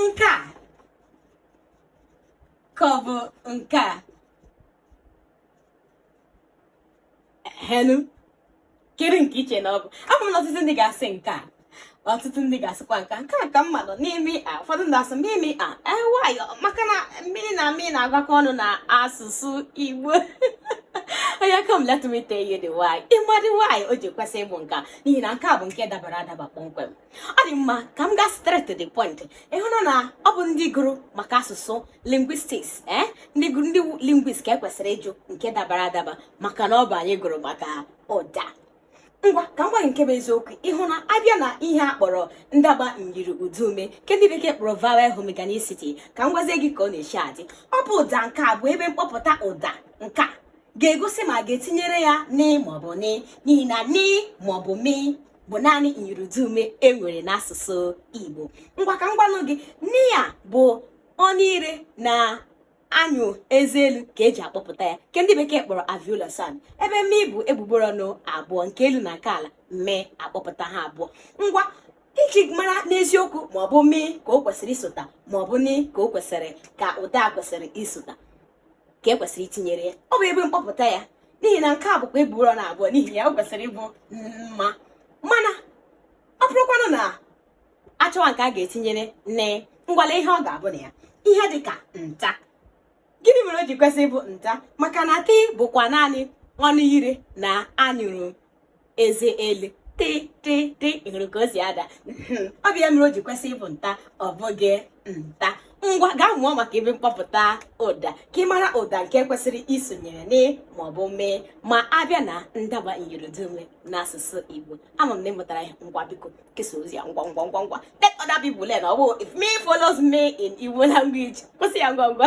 nke a ka ọ bụ nke a hello kedu nke i che na ọ bụ ama m na ọtụtụ ndị ga-asị nke a ọtụtụ ndị ga-asịkwa nke nke a ka mma nọ n'ime a ụfọdụ ndị asị mi mi a why maka na mi na mi na-agakọ ọnụ n'asụsụ Igbo oya ka m let me tell you the why ịma the why o ji kwesị ịbụ nke a n'ihi na nke a bụ nke dabara adaba kpọmkwem ọ dị mma ka m gaa straight to the point ị hụ na ọ bụ ndị gụrụ maka asụsụ lingwistiks ee eh? ndị gụrụ ndị lingwist ka e kwesịrị ịjụ nke dabara adaba maka na ọ bụ anyị gụrụ maka ụda ngwa ka m gwa gị nke bụ eziokwu ị hụ na a bịa na ihe a kpọrọ ndagba myiriụdaume nke ndị bekee kpọrọ vowel homorganicity ka m gwazie gị ka ọ na-eshi adị ọ bụ ụda nke a bụ ebe mkpọpụta ụda nke a ga-egosi ma ga-etinyere ya ni maọbụ mi n'ihi na ni maọbụ mi bụ naanị myiriụdaume e nwere n'asụsụ Igbo ngwa ka m gwanụ gị ni a bụ ọnụ ire na anyụrụ eze elu ka e ji akpọpụta ya nke ndị bekee kpọrọ alveolar sound ebe mi bụ egbugbere ọnụ abụọ nke elu na nke ala mi akpọpụta ha abụọ ngwa iji mara n'eziokwu ma ọ bụ mi ka o kwesịrị isota ma ọ bụ mi ka o kwesịrị ka ụda kwesịrị isota ka e kwesịrị itinyere ya ọ bụ ebe mkpọpụta ya n'ihi na nke a bụkwa egbugbere ọnụ abụọ n'ihi ya o kwesịrị ịbụ mma mana ọ bụrụkwanụ na a chọwa nke a ga-etinyere ni ngwa lee ihe ọ ga-abụ na ya ihe dị ka nta gịnị mere o ji kwesị ịbụ nta maka na tii bụkwa naanị ọnụ ire na anyụrụ eze elu tị tị tị ị hụrụ ka o si ada hmm, ọ bụ ya mere o ji kwesị ịbụ nta ọ bụghị mta ngwa gaa mụọ maka ebe mkpọpụta ụda ka ị mara ụda nke kwesịrị isonyere ni maọbụ mi ma a bịa na ndagba myiriụdaume n'asụsụ Igbo ama m na ị mụtara ya ngwa biko kesa ozi a ngwa ngwa ngwa ngwa let other people learn ọ bụ if mi follows mi in Igbo language kwụsị ya ngwa ngwa